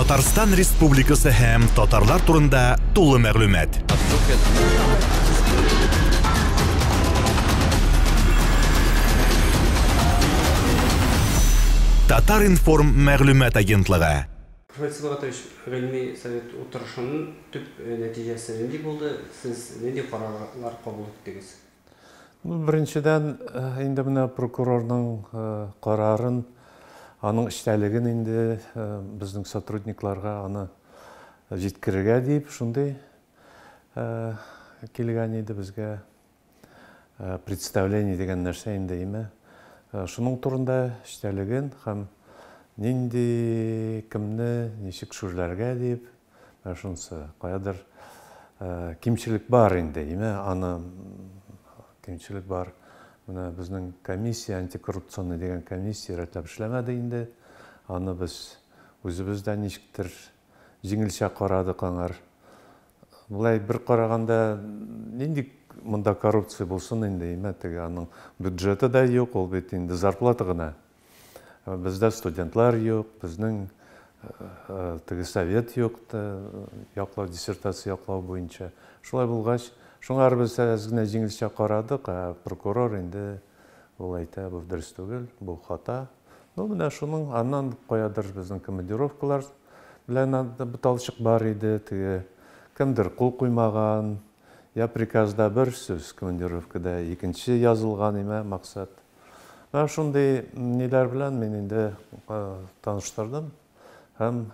Татарстан Республикасы һәм татарлар турында тулы мәгълүмат. Татар информ мәгълүмат агентлыгы. Профессор Сибгатович, гыйльми совет утырышының төп нәтиҗәсе нинди булды? Сез нинди карарлар кабул иттегез? Ну, беренчедән, э, инде менә прокурорның э, карарын, аның эчтәлеген инде э, безнең сотрудникларга аны җиткерергә дип, шундый килгән иде безгә представление дигән нәрсә инде име. Шуның турында эчтәлеген һәм нинди кемне ничек шүрләргә дип Менә шунысы, каядыр кимчелек бар инде, име, аны кимчелек бар. Менә безнең комиссия, антикоррупционный дигән комиссия рәтләп эшләмәде инде. Аны без үзебез дә ничектер җиңелчә карадык аңар. Болай бер караганда, нинди монда коррупция булсын инде, име, теге аның бюджеты да юк, ул бит инде зарплата гына. Бездә студентлар юк, безнең теге совет юк, яклау, диссертация яклау буенча. Шулай булгач, шуңа без әз генә җиңелчә карадык, ә прокурор инде ул әйтә, бу дөрес түгел, бу хата. Ну, менә шуның аннан каядыр безнең командировкалар белән буталчык бар иде, теге кемдер кул куймаган, я приказда бер сүз, командировкада икенче язылган имә максат. Менә шундый ниләр белән мин инде таныштырдым һәм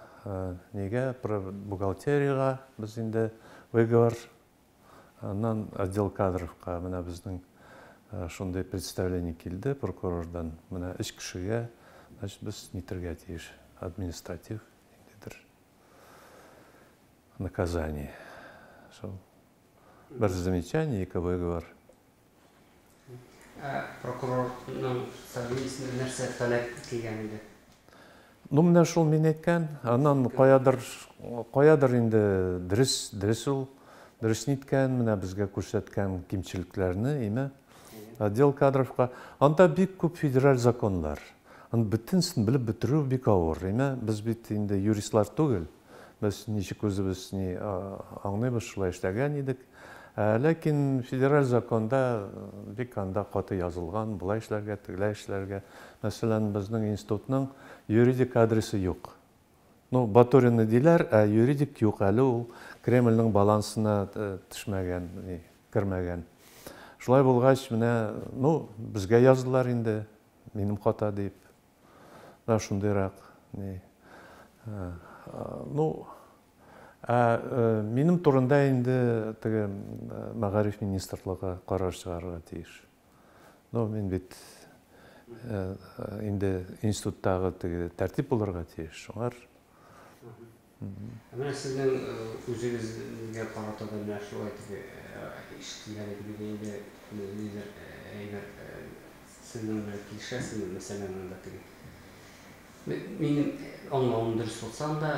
нигә бухгалтериягә без инде выговор аннан отдел кадровка менә безнең шундый представление килде прокурордан менә өч кешегә значит без нитергә тиеш административ ниндидер наказание шул бер замечание ике выговор Ә прокурорның фамилиясенә нәрсә фәләк килгән иде? Ну менә шул мин әйткән, аннан каядыр, каядыр инде дөрес, дөрес ул, дөрес ниткән, менә безгә күрсәткән кимчелекләрне, име, отдел кадровка. Анда бик күп федераль законнар. Аны бөтенесен белеп бетерү бик авыр, име, без бит инде юристлар түгел. Без ничек үзебез ни аңлыйбыз, шулай эшләгән идек. Ләкин федераль законда бик анда каты язылган, болай эшләргә, тегеләй эшләргә. Мәсәлән, безнең институтның юридик адресы юк. Ну, Батурины диләр, ә юридик юк, әле ул Кремльнең балансына төшмәгән, ни, кермәгән. Шулай булгач, менә, ну, безгә яздылар инде, минем хата дип. да шундыйрак ни ну ә минем турында инде теге мәгариф министрлыгы карар чыгарырга тиеш ну мин бит инде институттагы теге тәртип булырга тиеш шуңар Ә менә сезнең үзегезгә карата да менә шулай дип ишетелгән иде бит инде, ниндидер әйбер сезнең белән килешәсезме, мәсәлән, монда теге, минем аңлавым дөрес булса анда,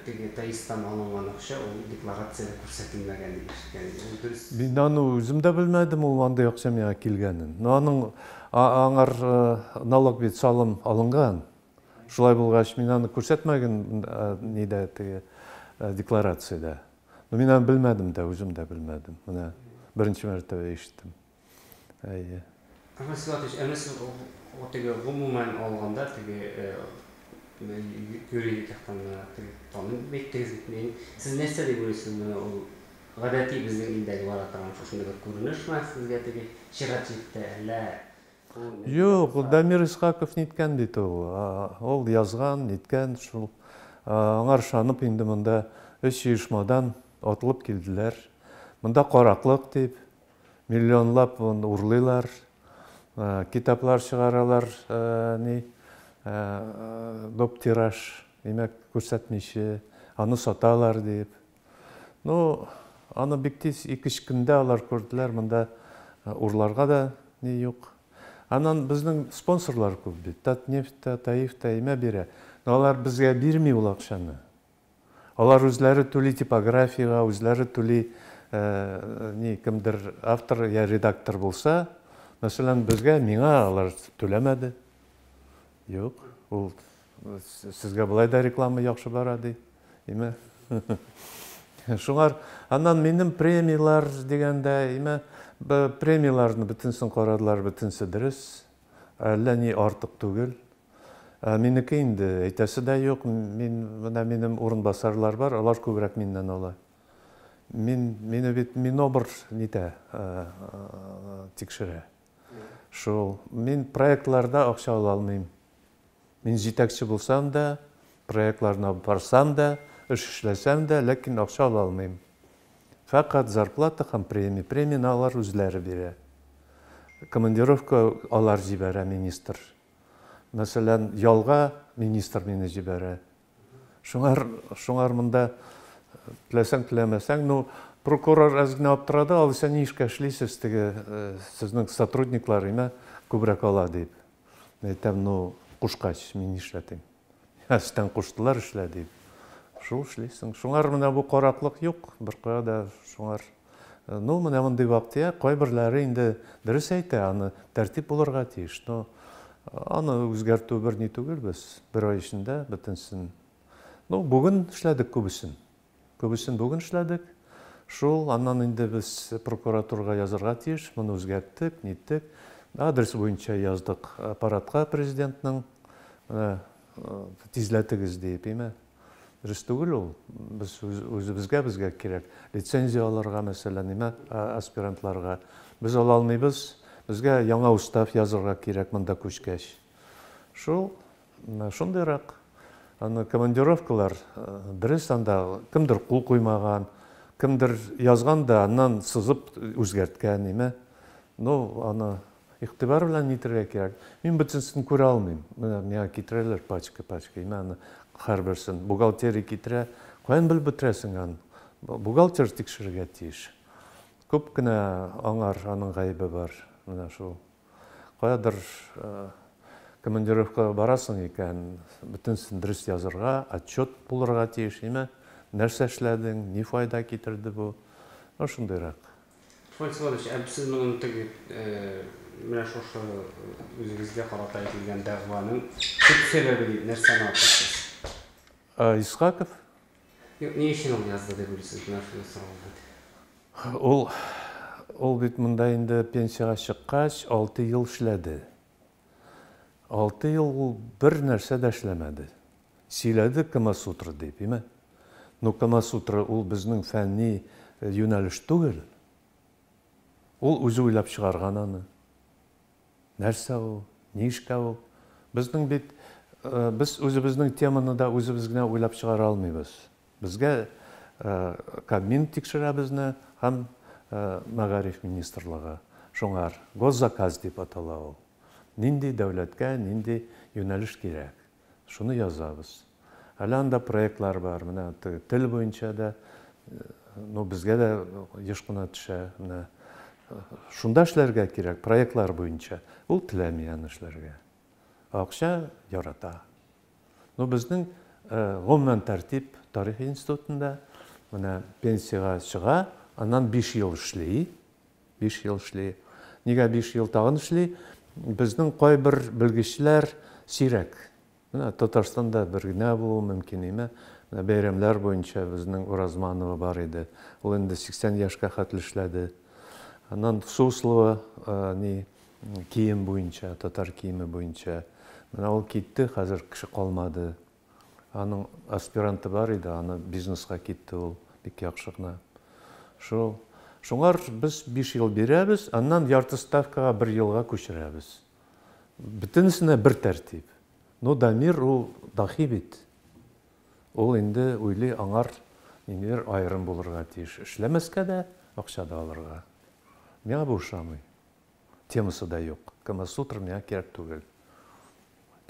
теге ТАИСтан алынган акча ул декларациядә күрсәтелмәгән дип ишеткән идем, ул дөрес? Мин аны үзем дә белмәдем, ул андый акча миңа килгәнен. Но аның, аңар налог бит, салым алынган, Шулай булгач, мин аны күрсәтмәген нидә теге декларациядә. Но мин аны белмәдем дә, үзем дә белмәдем. Менә беренче мәртәбә ишеттем. Әйе. Әхмәт Силатович, әмма сез теге гомумән алганда теге юридик яктан теге таный беттегез бит мин. Сез нәрсә дип уйлыйсыз менә ул гадәти безнең илдәге бара торган шушындый бер күренешме сезгә теге чират җитте, әллә Юк, ул Дамир Исхаков ниткән бит ул. Ул язган, ниткән, шул. Аңар ышанып инде монда өч оешмадан атылып килделәр. Монда караклык дип, миллионлап урлыйлар, китаплар чыгаралар, ни, доп тираж, димәк, күрсәтмиче, аны саталар дип. Ну, аны бик тиз, ике-өч көндә алар күрделәр, монда урларга да ни юк. Аннан безнең спонсорлар күп бит, Татнефть та, Таиф та имә бирә. Но алар безгә бирми ул акчаны. Алар үзләре түли типографиягә, үзләре түли, ни, кемдер автор я редактор булса, мәсәлән, безгә, миңа алар түләмәде. Юк, ул Сезгә болай да реклама яхшы бара, ди. Име? Шуңар, аннан минем премияләр дигәндә, име, премияләрне бөтенсен карадылар, бөтенсе дөрес. Әллә ни артык түгел. Ә минеке инде әйтәсе дә юк. Мин менә минем урынбасарлар бар, алар күбрәк миннән ала. Мин мине бит Минобр нитә, тикшерә. Шул. Мин проектларда акча ала алмыйм. Мин җитәкче булсам да, проектларына барсам да, эш эшләсәм дә, ләкин акча ала алмыйм. Фәкать зарплата һәм премия. Премияне алар үзләре бирә. Командировка алар җибәрә, министр. Мәсәлән, ялга министр мине җибәрә. Шуңар, шуңар монда теләсәң теләмәсәң, ну, прокурор әз генә аптырады, алайса ни эшкә эшлисез, теге э, сезнең сотрудниклар имә күбрәк ала дип. Әйтәм, ну, кушкач, мин нишләтим? Әстән куштылар эшлә дип. Шул эшлисең. Шуңар менә бу караклык юк, беркая да шуңар. Ну, менә мондый вак-төяк, кайберләре инде дөрес әйтә, аны тәртип булырга тиеш. Но аны үзгәртү бер ни түгел, без бер ай эчендә бөтенсен. Ну, бүген эшләдек күбесен. Күбесен бүген эшләдек. Шул, аннан инде без прокуратурга язырга тиеш, моны үзгәрттек, ниттек. Адрес буенча яздык аппаратка президентның, менә тизләтегез диеп, име. Дөрес түгел ул. Без үзебезгә безгә кирәк. Лицензия алырга, мәсәлән, нимә аспирантларга. Без ала алмыйбыз. Безгә яңа устав язырга кирәк монда күчкәч. Шул, шундыйрак. Аны командировкалар, дөрес анда кемдер кул куймаган, кемдер язган да аннан сызып үзгәрткән, нимә. Ну, аны Игътибар белән нитергә кирәк? Мин бөтенсен күрә алмыйм. Менә миңа китерәләр пачка-пачка. Мин аны һәрберсен бухгалтерия китерә. Каян белеп бетерәсең аны? Бухгалтер тикшерергә тиеш. Күп кенә аңар аның гаебе бар. Менә шул. Каядыр командировкага барасың икән, бөтенсен дөрес язырга, отчет булырга тиеш, әйме? Нәрсә эшләдең, ни файда китерде бу? Ну, шундыйрак. Фофан Всеволодович, ә сез моның тег менә шушы үзегезгә карата әйтелгән дәгъваның төп сәбәбе дип нәрсәне атыйсыз? Исхаков. Юк, ни өчен ул язды дип уйлыйсыз менә шуны сораулы дип? Ул, ул бит монда инде пенсиягә чыккач алты ел эшләде. Алты ел ул бер нәрсә дә эшләмәде. Сөйләде Камасутра дип, име? Ну, Камасутра ул безнең фәнни юнәлеш түгел. Ул үзе уйлап чыгарган аны. Нәрсә ул? Ни эшкә ул? Безнең бит, без үзебезнең теманы да үзебез генә уйлап чыгара алмыйбыз. Безгә Кабмин тикшерә безне һәм Мәгариф министрлыгы шуңар, госзаказ дип атала ул. Нинди дәүләткә нинди юнәлеш кирәк, шуны язабыз. Әле анда проектлар бар, менә теге тел буенча да, ну, безгә дә еш кына төшә, менә шунда эшләргә кирәк, проектлар буенча. Ул теләми аны эшләргә. Акча ярата. Ну, безнең гомумән тәртип тарихи институтында менә пенсиягә чыга, аннан 5 ел эшли. 5 ел эшли. Нигә 5 ел тагын эшли? Безнең кайбер белгечләр сирәк. Менә Татарстанда бер генә булу мөмкин име? Менә бәйрәмнәр буенча безнең Уразманова бар иде. Ул инде 80 яшькә хәтле эшләде. Аннан Суслова, ни, Кием буенча, татар киеме буенча. Менә ул китте, хәзер кеше калмады. Аның аспиранты бар иде, аны бизнеска китте ул, бик яхшы гына. Шул. Шуңар без биш ел бирәбез, аннан ярты ставкага бер елга күчерәбез. Бөтенесенә бер тәртип. Ну, Дамир ул дахи бит. Ул инде уйлый, аңар ниндидер аерым булырга тиеш. Эшләмәскә дә, акча да алырга. Миңа бу ошамый. темасы да юк. Камасутра миңа кирәк түгел.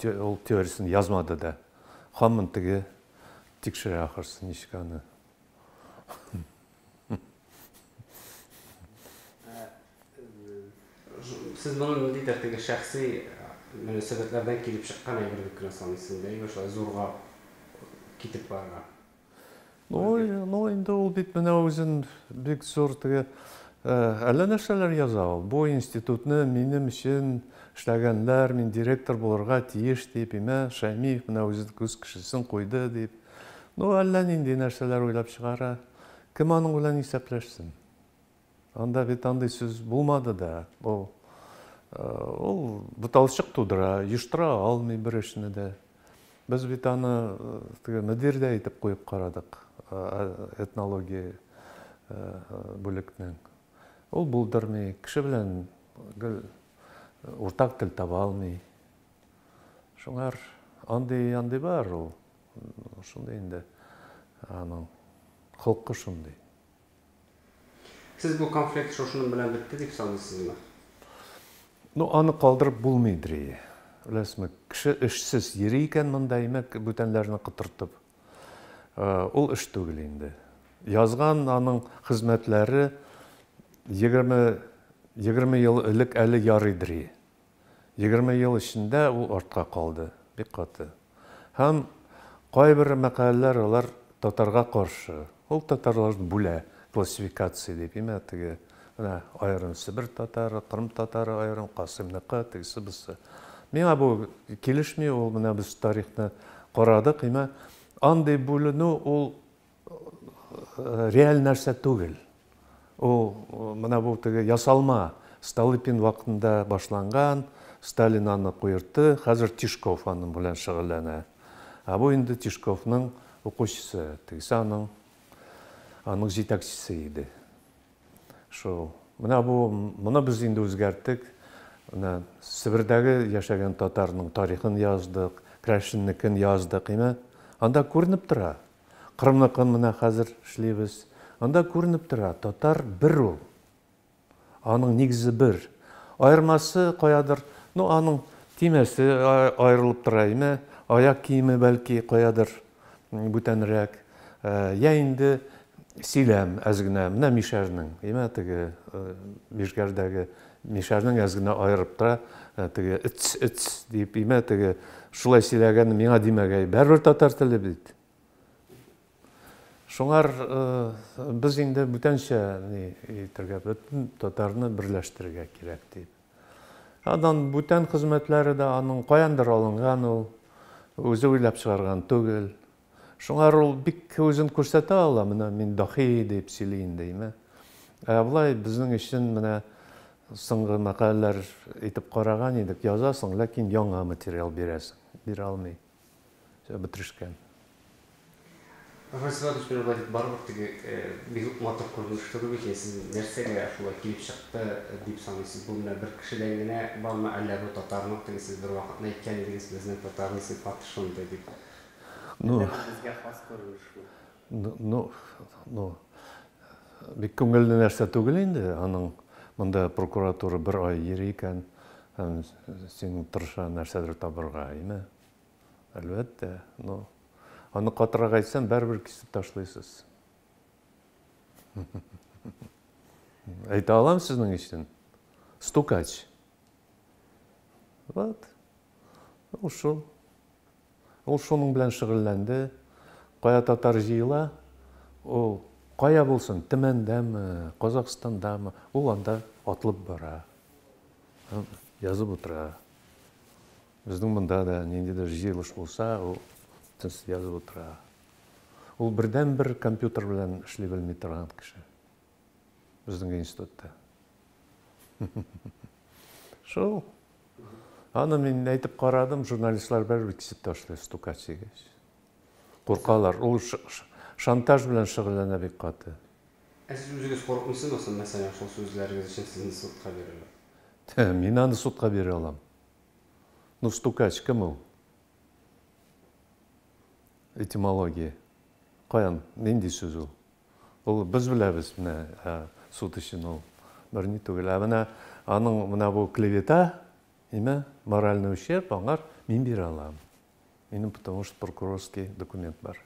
Ул теориясен язмады да. Хамын теге тикшерә ахырсы ничек аны. Сез моны ниндидер теге шәхси мөнәсәбәтләрдән килеп чыккан әйбер дип кенә саныйсызмы? Бәлки шулай зурга китеп барырга? Ну, инде ул бит менә үзен бик зур теге әллә нәрсәләр яза ул. Бу институтны минем өчен эшләгәннәр, мин директор булырга тиеш дип, имә Шәймиев менә үзе күз кешесен куйды дип. Ну, әллә нинди нәрсәләр уйлап чыгара. Кем аның белән исәпләшсен? Анда бит андый сүз булмады да. Бу ул буталчык тудыра, йоштыра алмый бер эшне дә. Без бит аны теге мөдирдә итеп куеп карадык, этнология бүлекнең. Ул булдырмый, кеше белән гел уртак тел таба алмый. Шуңар андый андый бар ул. Шундый инде аның холкы шундый. Сез бу конфликт шушының белән бетте дип саныйсызмы? Ну, аны калдырып булмый дри. Беләсезме, кеше эшсез йөри икән монда, димәк, бүтәннәрне котыртып. Ул эш түгел инде. Язган аның хезмәтләре егерме ел элек әле ярый дри. Егерме ел эчендә ул артка калды, бик каты. Һәм кайбер мәкаләләр алар татарга каршы. Ул татарлар бүлә, классификация дип, имә теге, менә аерым Себер татары, Кырым татары аерым, Касыймныкы, тегесе бусы. Миңа бу килешми, ул менә без тарихны карадык, имә андый бүленү ул реаль нәрсә түгел. Ул менә бу теге ясалма Столыпин вакытында башланган, Сталин аны куертты, хәзер Тишков аның белән шөгыльләнә. Ә бу инде Тишковның укучысы, тегесе аның аның җитәкчесе иде. Шул. Менә бу моны без инде үзгәрттек. Менә Себердәге яшәгән татарның тарихын яздык, Крәшиннекен яздык, име? Анда күренеп тора. Кырымныкын менә хәзер эшлибез. Анда күренеп тора, татар бер ул. Аның нигезе бер. Аермасы каядыр, ну, аның төймәсе аерылып тора име, аяк киеме, бәлки, каядыр бүтәнрәк. Йә инде сөйләм әз генә, менә мишәрнең, име, теге Мишгәрдәге Мишәрнең әз генә аерып та, теге эц, эц дип имә, теге шулай сөйләгәнне миңа димәгәй, бәрбер татар теле бит. Шуңар без инде бүтәнчә ни итергә, бөтен татарны берләштерергә кирәк дип. Аннан бүтән хезмәтләре дә аның каяндыр алынган ул, үзе уйлап чыгарган түгел. Шуңар ул бик үзен күрсәтә ала, менә мин даһи дип сөйли инде, име. Ә болай безнең өчен менә соңгы мәкаләләр итеп караган идек, язасың, ләкин яңа материал бирәсең, бирә алмый. Все, бетерешкән. Васил Иванович, менә болай дип барыбыз теге бик үк матур күренеш түгел бит инде, сез нәрсәгә шулай килеп чыкты дип саныйсыз? Бу менә бер кешедән генә бармы, әллә бу татарның теге сез бервакытны әйткән идегез, безнең татарның сыйфаты шундый дип, Ну, безгә хас күренеш шул. Ну, ну, ну, бик күңелле нәрсә түгел инде, аның монда прокуратура бер ай йөри икән, һәм син тырыша нәрсәдер табырга, әйме? Әлбәттә, ну, аны катырак әйтсәм, бәрбер кисеп ташлыйсыз. Әйтә алам сезнең өчен. Стукач. Вот. Ушел. Ул шуның белән шөгыльләнде. Кая татар җыела, ул кая булсын, Төмәндәме, Казакъстандамы, ул анда атлып бара һәм язып утыра. Безнең монда да ниндидер җыелыш булса, ул тез язып утыра. Ул бердәнбер компьютер белән эшли белми торган кеше. Безнең институтта. Шул. Аны мин әйтеп карадым, журналистлар бәрбер кисеп ташлый стукач дигәч. Куркалар. Ул шантаж белән шөгыльләнә бик каты. Ә сез үзегез курыкмыйсызмы соң, мәсәлән, шул сүзләрегез өчен сезне судка бирерләр? Мин аны судка бирә алам. Ну, стукач кем ул? Этимология. Каян, нинди сүз ул? Ул без беләбез менә суд өчен ул берни түгел. Ә менә аның менә бу клевета, имә, моральный ущерб аңар мин бирә алам. Минем потому что прокурорский документ бар.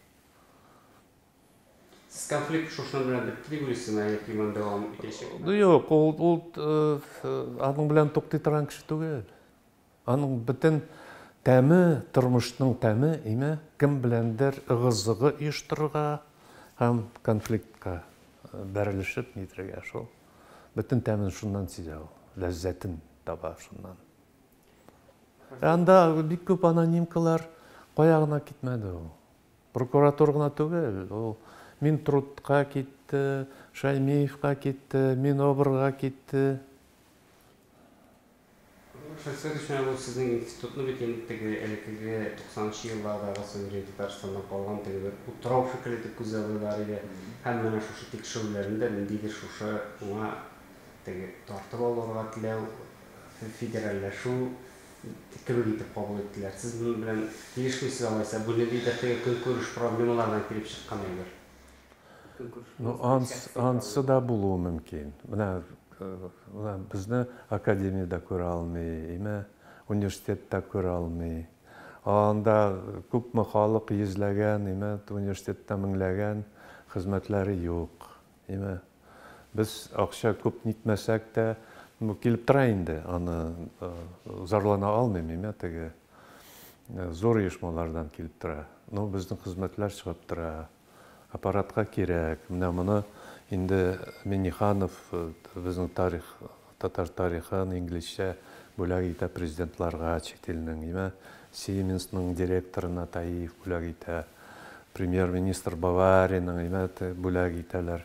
Сез конфликт шушының белән бетте дип уйлыйсызмы, әллә тирмән дәвам итәчәкме? Юк, ул, ул э, э, аның белән туктый торган кеше түгел. Аның бөтен тәме, тормышның тәме, име, кем беләндер ыгы-зыгы оештырырга һәм конфликтка бәрелешеп нидергә шул. Бөтен тәмен шуннан сизә ул, ләззәтен таба шуннан. Ә анда бик күп анонимкалар кая гына китмәде ул. Прокуратура гына түгел, ул Минтрудка китте, Шаймиевка китте, Минобрга китте. Шәхсән өчен ул сезнең институтны бит инде теге элеккеге туксанынчы еллардагы Суверен Татарстаннан калган теге бер утрау шикелле итеп күзаллыйлар иде. Һәм менә шушы тикшерүләрне дә ниндидер шушы уңа теге тартып алырга теләү, федеральләшү кебек итеп кабул иттеләр. Сез моның белән килешмисез алайса? Бу ниндидер теге көнкүреш проблемалардан килеп чыккан әйбер. Ну, анс, ансы да булуы мөмкин. Менә, менә безне академиядә күрә алмый, име университетта күрә алмый. Анда күпме халык йөзләгән, име университетта меңләгән хезмәтләре юк. Име без акча күп нитмәсәк тә, ну, килеп тора инде, аны зарлана алмыйм, име теге зур оешмалардан килеп тора. Ну, безнең хезмәтләр чыгып тора. Аппаратка кирәк. Менә моны инде Миңнеханов безнең тарих, татар тарихын инглизчә бүләк итә президентларга чит илнең. Имә Сиеменсның директорына Таиев бүләк итә. Премьер-министр Бавариянең, имә, бүләк итәләр.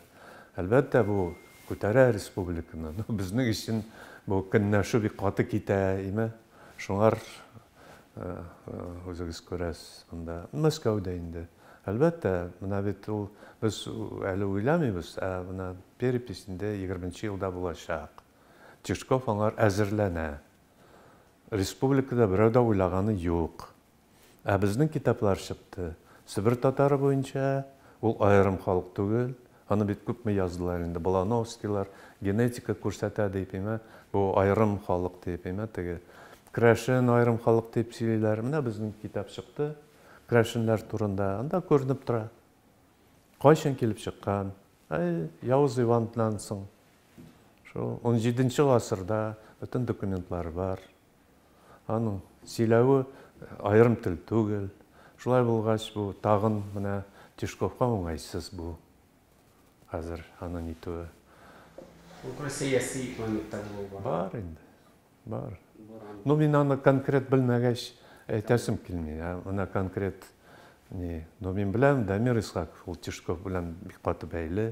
Әлбәттә, бу күтәрә республиканы. Ну, безнең өчен бу көнләшү бик каты китә, имә. Шуңар Үзегез күрәсез монда. Мәскәүдә инде. Әлбәттә, менә бит ул без әле уйламыйбыз, ә менә перепись инде егерменче елда булачак. Тишков аңар әзерләнә. Республикада берәү дә уйлаганы юк. Ә безнең китаплар чыкты. Себер татары буенча, ул аерым халык түгел, Аны бит күпме яздылар инде, Балановскийлар, генетика күрсәтә, диеп имә, бу аерым халык диеп имә, теге крәшен аерым халык диеп сөйлиләр. Менә безнең китап чыкты крәшеннәр турында, анда күренеп тора. Кайчан килеп чыккан? Әй, Явыз Иваннан соң. Шул унҗиденче гасырда бөтен документлары бар. Аның сөйләве аерым тел түгел. Шулай булгач, бу тагын менә Тишковка уңайсыз бу хәзер аны нитүе. Ул бер сәяси моментта булуы бар. Бар инде. Бар. Ну, мин аны конкрет белмәгәч, әйтәсем килми. Ә менә конкрет ни, ну, мин беләм, Дамир Исхаков ул Тишков белән бик каты бәйле.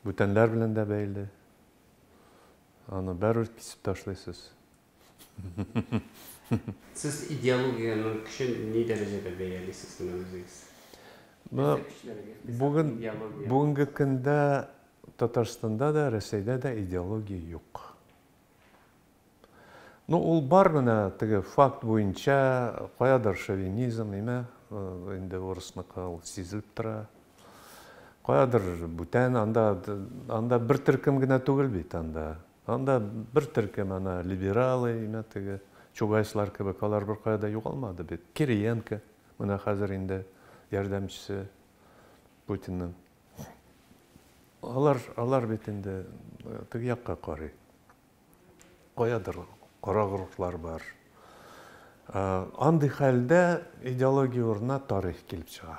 Бүтәнләр белән дә бәйле. Аны бәрүр кисеп ташлыйсыз. Сез идеологиянең көчен ни дәрәҗәдә бәялисез менә үзегез? Бүген бүгенге көндә Татарстанда да, Рәсәйдә дә идеология юк. Ну, ул бар менә теге факт буенча, каядыр шовинизм, имә, инде урысныкы ул сизелеп тора. Каядыр бүтән, анда, анда бер төркем генә түгел бит анда. Анда бер төркем, ана, либералы, имә теге, чугайслар кебек, алар бер кая да югалмады бит. Кириенко, менә хәзер инде ярдәмчесе Путинның. Алар, алар бит инде э, теге якка карый. Каядыр кара горурлар бар. Э, андый хәлдә идеология урынына тарих килеп чыга.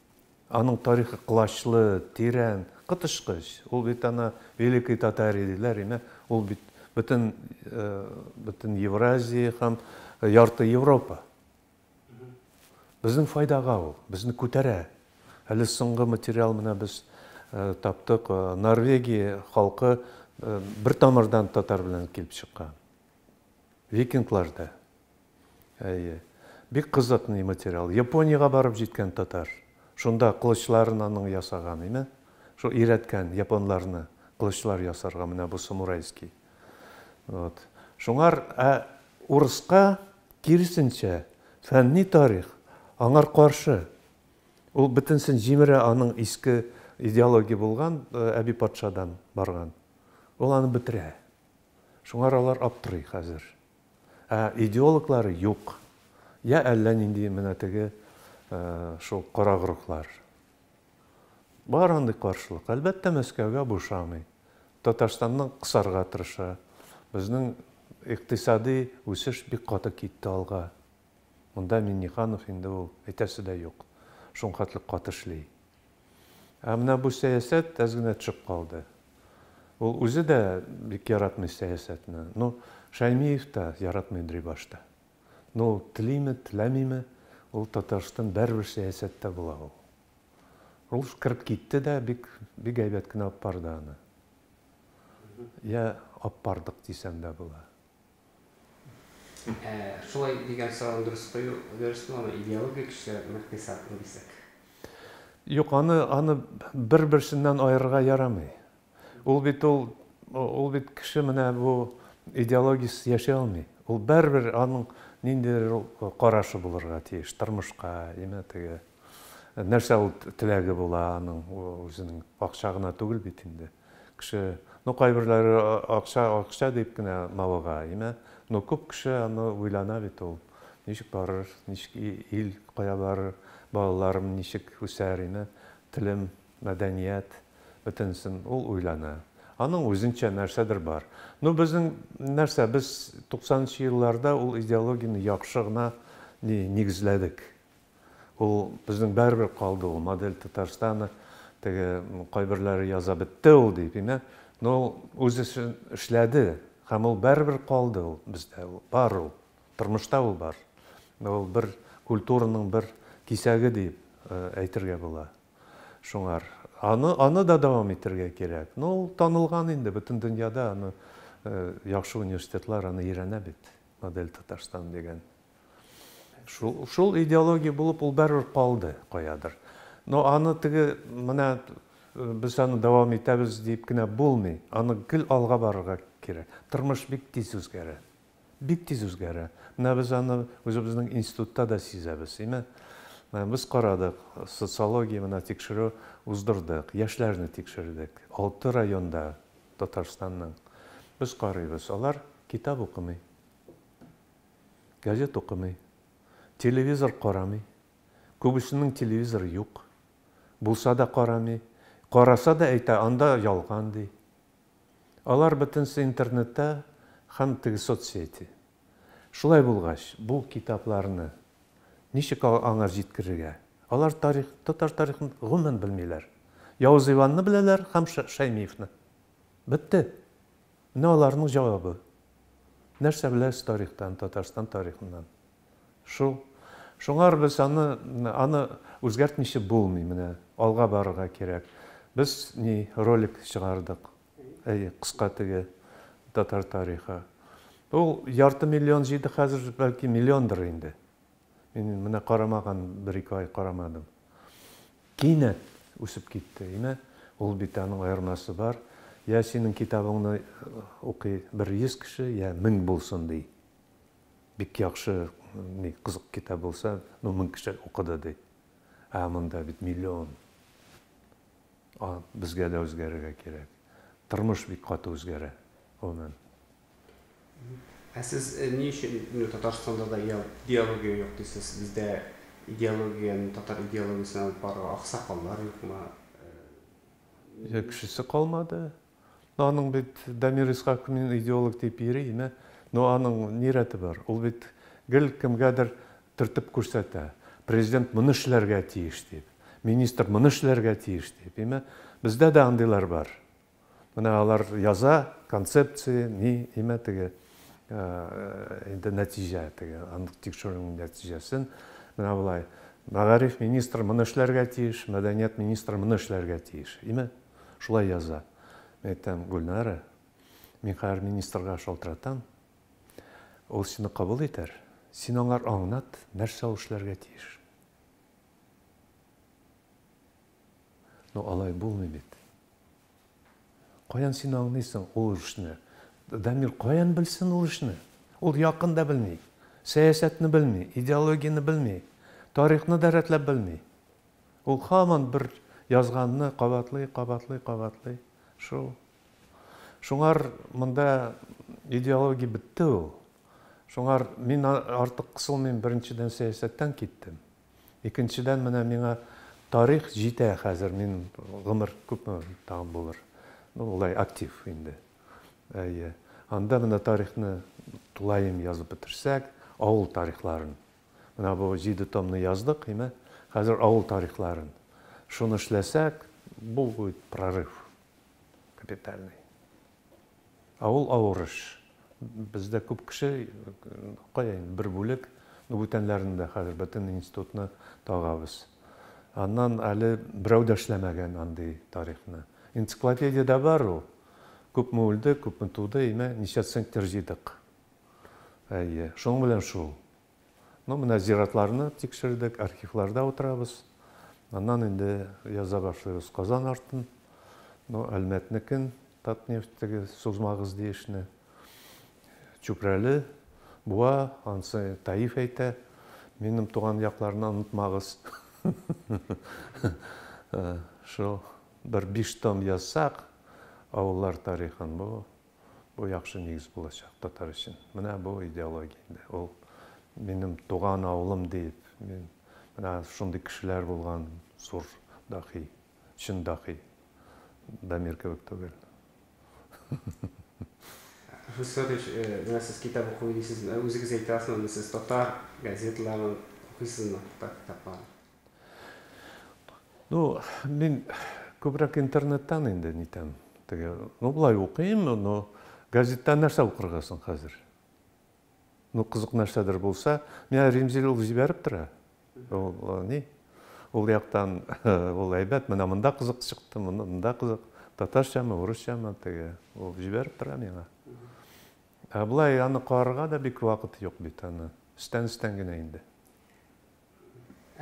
Аның тарихы колачлы, тирән, коточкыч. Ул бит ана Великой Татарии диләр име, ул бит бөтен бөтен Евразия һәм ярты Европа. Безнең файдага ул, безне күтәрә. Әле соңгы материал менә без таптык, Норвегия халкы бер тамырдан татар белән килеп чыккан. Викинглар да. Әйе. Бик кызык ни материал. Япониягә барып җиткән татар. Шунда кылычларын аның ясаган име. Шул өйрәткән японларны кылычлар ясарга менә бу самурайский. Вот. Шуңар ә урыска киресенчә фәнни тарих аңар каршы. Ул бөтенсен җимерә аның иске идеология булган әби патшадан барган. Ул аны бетерә. Шуңар алар аптырый хәзер. Ә идеологлары юк. Йә әллә нинди менә теге шул корак рухлар. Бар андый каршылык. Әлбәттә, Мәскәүгә бу ошамый. Татарстаннан кысарга тырыша. Безнең икътисади үсеш бик каты китте алга. Монда Миңнеханов инде ул әйтәсе дә юк, шунхатлы каты эшли. Ә менә бу сәясәт әз генә төшеп калды. Ул үзе дә бик яратмый сәясәтне. Ну, Шәймиев та яратмыйдри башта. Ну, ул телиме, теләмиме, ул Татарстан бәрбер сәясәттә була ул. Ул кереп китте дә, бик, бик әйбәт кенә апарды аны. Я апардык дисәм дә була. Ә шулай дигән сорауны дөрес кую дөрес буламы, идеология көчлерәкме, икътисадмы дисәк? Юк, аны, аны бер-берсеннән аерырга ярамый. Ул бит ул, ул бит кеше менә бу идеологиясез яши алмый. Ул бәрбер аның ниндидер ул карашы булырга тиеш тормышка, яме теге нәрсә ул теләге була аның, үзенең акча гына түгел бит инде. Кеше, ну кайберләре акча, акча дип кенә мавыга, әйме? Ну күп кеше аны уйлана бит ул, ничек барыр, ничек ил кая барыр, балаларым ничек үсәр, әйме? Телем, мәдәният, бөтенесен ул уйлана. Аның үзенчә нәрсәдер бар. Ну безнең нәрсә, без туксанынчы елларда ул идеологияне яхшы гына нигезләдек. Ул безнең барыбер калды ул модель Татарстана теге кайберләре яза бетте ул дип имә но ул үз эшен эшләде һәм ул барыбер калды ул бездә ул бар ул тормышта ул бар ул бер культураның бер кисәге дип әйтергә була шуңар аны аны да дәвам итәргә кирәк но ул танылган инде бөтен дөньяда аны яхшы университетлар аны өйрәнә бит модель Татарстан дигән Шул, шул идеология булып ул бәрер калды каядыр. Но аны теге менә э, без аны дәвам итәбез дип кенә булмый. Аны гел алга барырга кирәк. Тормыш бик тиз үзгәрә. Бик тиз үзгәрә. Менә без аны үзебезнең институтта да сизәбез, име? Менә без карадык, социология менә тикшерү уздырдык, яшьләрне тикшердек. Алты районда Татарстанның. Без карыйбыз, алар китап укымый. Газет укымый. Телевизор карамый. Күбесенең телевизоры юк. Булса да карамый. Караса да әйтә, анда ялган, ди. Алар бөтенесе интернетта һәм теге соцсети. Шулай булгач, бу китапларны ничек аңа җиткерергә? Алар тарих, татар тарихын гомумән белмиләр. Явыз Иванны беләләр һәм Шәймиевны. Бетте. Менә аларның җавабы. Нәрсә беләсез тарихтан, Татарстан тарихыннан? Шул. Шуңар без аны, аны үзгәртмичә булмый, менә алга барырга кирәк. Без ни, ролик чыгардык. Әйе, кыска теге татар тарихы. Ул ярты миллион җыйды, хәзер бәлки миллиондыр инде. Мин менә карамаган бер-ике ай карамадым. Кинәт үсеп китте. Имә, ул бит аның аермасы бар. Йә синең китабыңны укый бер йөз кеше, йә мең булсын, ди. Бик яхшы, ни, кызык китап булса, ну, мең кеше укыды, ди. Ә монда бит миллион. А, безгә дә үзгәрергә кирәк. Тормыш бик каты үзгәрә, гомумән. Ә сез ни өчен менә Татарстанда да диалогия юк дисез? Бездә идеологияне, татар идеологиясен алып барырга аксакаллар юкмы? Йә кешесе калмады. Ну аның бит Дамир Исхаков мин идеолог дип йөри име? Ну аның ни рәте бар? Ул бит гел кемгәдер төртеп күрсәтә. Президент моны эшләргә тиеш дип, министр моны эшләргә тиеш дип име? Бездә дә андыйлар бар. Менә алар яза, концепция, ни, имә теге, инде нәтиҗә теге, анык тикшерүнең нәтиҗәсен. Менә болай, мәгариф министры моны эшләргә тиеш, мәдәният министры моны эшләргә тиеш. Име? Шулай яза. Мен әйтәм, Гөлнара, мин хәзер министрга шалтыратам, ул сине кабул итәр, син аңар аңнат, нәрсә ул эшләргә тиеш. Ну алай булмый бит. Каян син аңлыйсың ул эшне? Дамир каян белсен ул эшне? Ул якын да белми. Сәясәтне белми, идеологияне белми, тарихны да рәтләп белми. Ул хаман бер язганны кабатлый, кабатлый, кабатлый. Шул. Шуңар монда идеология бетте ул. Шуңар мин артык кысылмыйм, беренчедән сәясәттән киттем. Икенчедән, менә миңа тарих җитә хәзер, мин гомер күпме тагын булыр, ну, болай актив инде. Әйе. Анда менә тарихны тулаем язып бетерсәк, авыл тарихларын. Менә бу җиде томны яздык, әйме? Хәзер авыл тарихларын. Шуны эшләсәк, бу будет прорыв капитальный. Ә ул авыр эш. Бездә күп кеше, кая инде, бер бүлек, ну, бүтәннәрне дә хәзер, бөтен институтны тагабыз. Аннан әле берәү дә эшләмәгән андый тарихны. Энциклопедиядә бар ул. Күпме үлде, күпме туды, имә, ничә центнер җыйдык. Әйе, шуның белән шул. Ну, менә зиратларны тикшердек, архивларда утырабыз. Аннан инде яза башлыйбыз Казан артын, ну, Әлмәтнекен, Татнефть теге сузмагыз ди эшне. Чүпрәле, Буа, ансы Таиф әйтә, минем туган якларны онытмагыз. Шул бер биш том язсак, авыллар тарихын, бу Бу яхшы нигез булачак татар өчен. Менә бу идеология инде. Ул минем туган авылым дип, мин менә шундый кешеләр булган зур дахи, чын дахи. Дамир кебек түгел. Фүз Фәтович, менә сез китап укый дисез, үзегез әйтәсезме, сез татар газеталарын укыйсызмы, татар китапларын? Ну, мин күбрәк интернеттан инде нитәм. Теге, ну, былай укыйм, но газеттан нәрсә укырга соң хәзер? Ну, кызык нәрсәдер булса, менә Римзил ул җибәреп тора. Ул э, ни? Ул яктан ул әйбәт, менә монда кызык чыкты, монда кызык. Татарчамы, урысчамы теге, ул җибәреп тора миңа. Ә былай аны карарга да бик вакыт юк бит аны. Эштән-эштән генә инде.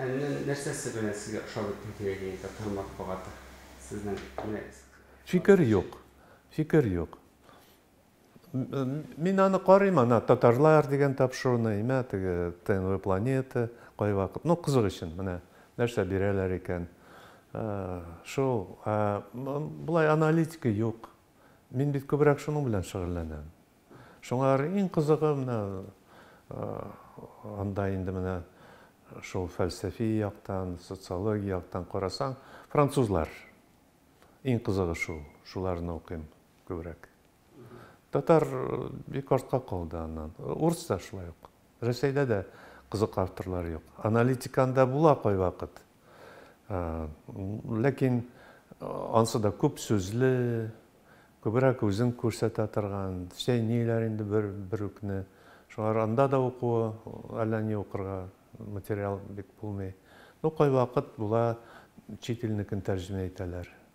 Әннең нәрсәсе белән сезгә ошап бетте кирәге инде кыр матбугаты? Сезнең менә Фикер юк. Фикер юк. Мин аны карыйм, ана татарлар дигән тапшыруны, имә теге ТНВ планета кайвакыт, ну кызык өчен, менә нәрсә бирәләр икән. Шул, болай аналитика юк. Мин бит күбрәк шуның белән шөгыльләнәм. Шуңа карый иң кызыгы менә анда инде менә шул фәлсәфи яктан, социология яктан карасаң, французлар. Иң кызыгы шул, шуларны укыйм күбрәк. Татар бик артка калды аннан. Урыс та шулай ук. Рәсәйдә дә кызык авторлар юк. Аналитиканда була кайвакыт. Ләкин ансы да күп сүзле, күбрәк үзен күрсәтә торган, чәйниләр инде бер бер үкне. Шулар анда да укуы, әллә ни укырга материал бик булмый. Ну, кайвакыт була, чит илнекен тәрҗемә итәләр.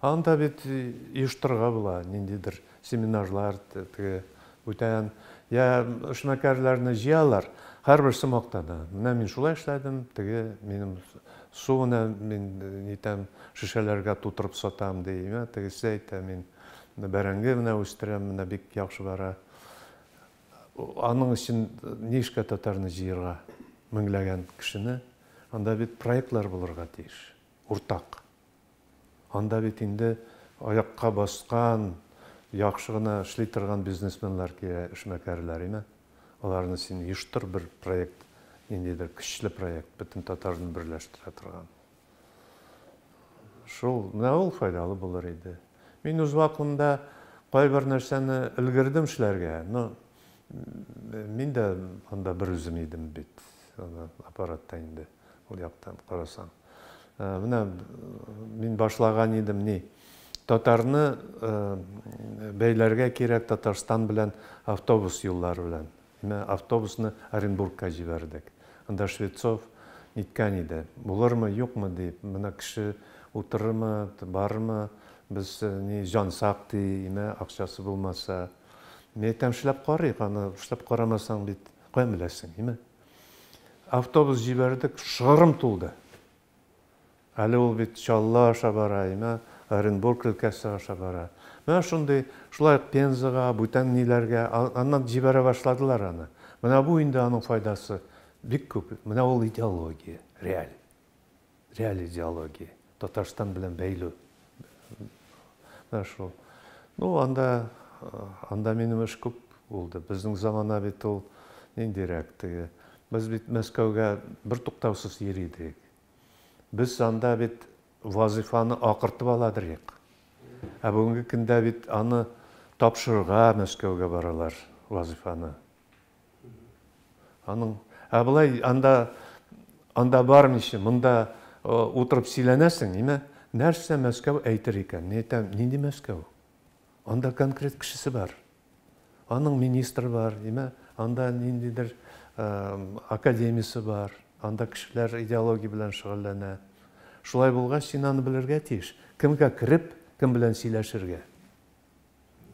Анда бит оештырырга була ниндидер семинарлар, теге бүтән, я эшмәкәрләрне җыялар, һәрбер сумокта да. Менә мин шулай эшләдем, теге минем суны мин нитәм, шешәләргә тутырып сатам ди, я тегесе әйтә, мин бәрәңге менә үстерәм, менә бик яхшы бара. Аның өчен нишкә татарны җыерга? Меңләгән кешене. Анда бит проектлар булырга тиеш, уртак. Анда бит инде аякка баскан, яхшы гына эшли торган бизнесменлар килә, эшмәкәрләр, име. Аларны син оештыр бер проект, ниндидер көчле проект, бөтен татарны берләштерә торган. Шул, менә ул файдалы булыр иде. Мин үз вакытымда кайбер нәрсәне өлгердем эшләргә, но мин дә анда берүзем идем бит, аны аппаратта инде, ул яктан карасаң. Менә мин башлаган идем ни. Татарны бәйләргә кирәк Татарстан белән автобус юллары белән. Менә автобусны Оренбургка җибәрдек. Анда Швецов ниткән иде. Булырмы, юкмы дип, менә кеше утырырмы, барырмы, без ни җансак ди, имә акчасы булмаса. Мин әйтәм, эшләп карыйк, аны эшләп карамасаң бит каян беләсең, имә. Автобус җибәрдек, шыгрым тулды. Әле ул бит Чаллы аша бара, имә Оренбург өлкәсе аша бара. Менә шундый, шулай ук Пензага, бүтән ниләргә, аннан җибәрә башладылар аны. Менә бу инде аның файдасы бик күп. Менә ул идеология, реаль. Реаль идеология, Татарстан белән бәйлү. Менә шул. Ну, анда, анда минем эш күп булды. Безнең замана бит ул ниндирәк теге. Без бит Мәскәүгә бер туктаусыз йөри идек. Без анда бит вазифаны акыртып ала идек. Ә бүгенге көндә бит аны тапшырырга Мәскәүгә баралар вазифаны. Аның, ә былай анда, анда бармыйча, монда утырып сөйләнәсең, име? Нәрсә Мәскәү әйтер икән? Мин әйтәм, нинди Мәскәү? Анда конкрет кешесе бар. Аның министр бар, име? Анда ниндидер академиясе бар. Анда кешеләр идеология белән шөгыльләнә. Шулай булгач, син аны белергә тиеш. Кемгә кереп, кем белән сөйләшергә?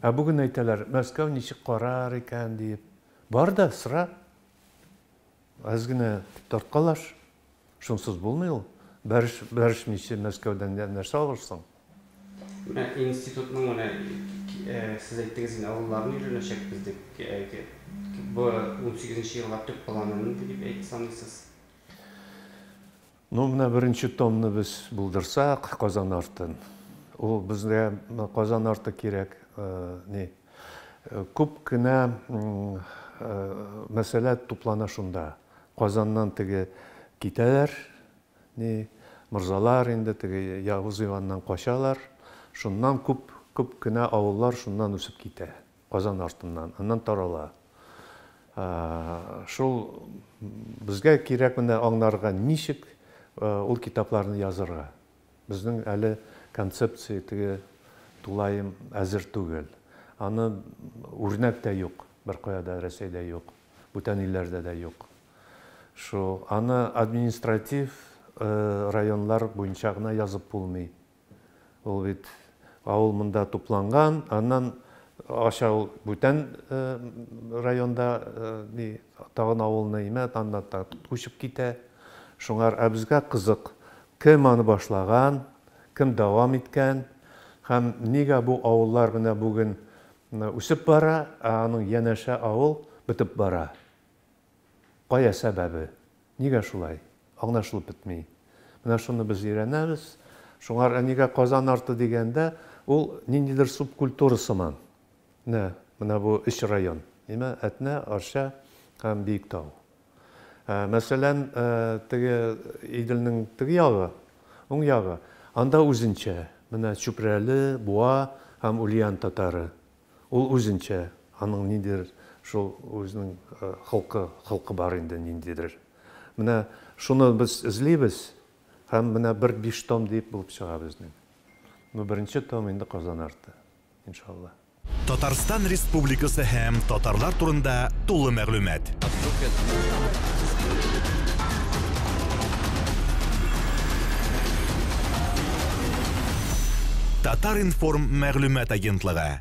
Ә бүген әйтәләр, Мәскәү ничек карар икән диеп. Бар да сра. Әз генә тарткалаш. Шунсыз булмый ул. Бәреш, бәрешмичә Мәскәүдән дә нәрсә алырсың? Менә институтның менә сез әйттегез инде авылларны өйрәнәчәкбез дип. Бу унсигезенче елга төп планы нинди дип әйт саныйсыз? Ну, менә беренче томны без булдырсак, Казан артын. Ул безгә Казан арты кирәк, ни. Күп кенә мәсьәлә туплана шунда. Казаннан теге китәләр, ни, морзалар инде, теге Явыз Иваннан качалар. Шуннан күп, күп кенә авыллар шуннан үсеп китә. Казан артыннан, аннан тарала. Шул безгә кирәк менә аңларга, ничек ул китапларны язырга. Безнең әле концепция теге тулаем әзер түгел. Аны үрнәк тә юк, беркая да Рәсәйдә юк, бүтән илләрдә дә юк. Шул аны административ районнар буенча гына язып булмый. Ул бит авыл монда тупланган, аннан аша ул бүтән районда ни тагын авылны имә, аннан да күчеп китә. Шуңар ә безгә кызык, кем аны башлаган, кем дәвам иткән һәм нигә бу авыллар менә бүген үсеп бара, ә аның янәшә авыл бетеп бара? Кая сәбәбе? Нигә шулай? Аңлашылып бетми. Менә шуны без өйрәнәбез. Шуңар әнигә Казан арты дигәндә, ул ниндидер субкультура сыман. Менә, менә бу өч район. Нимә? Әтнә, Арча һәм Биектау. Ә, мәсәлән, ә, теге Иделнең теге ягы, уң ягы, анда үзенчә. Менә Чүпрәле, Буа һәм Ульян татары. Ул үзенчә, аның ниндидер шул үзенең холкы, холкы бар инде ниндидер. Менә шуны без эзлибез һәм менә бер биш том дип булып чыга безнең. Ну беренче том инде Казан арты, иншалла. Татарстан Республикасы һәм татарлар турында тулы мәгълүмат. Татар-информ мәгълүмат агентлыгы.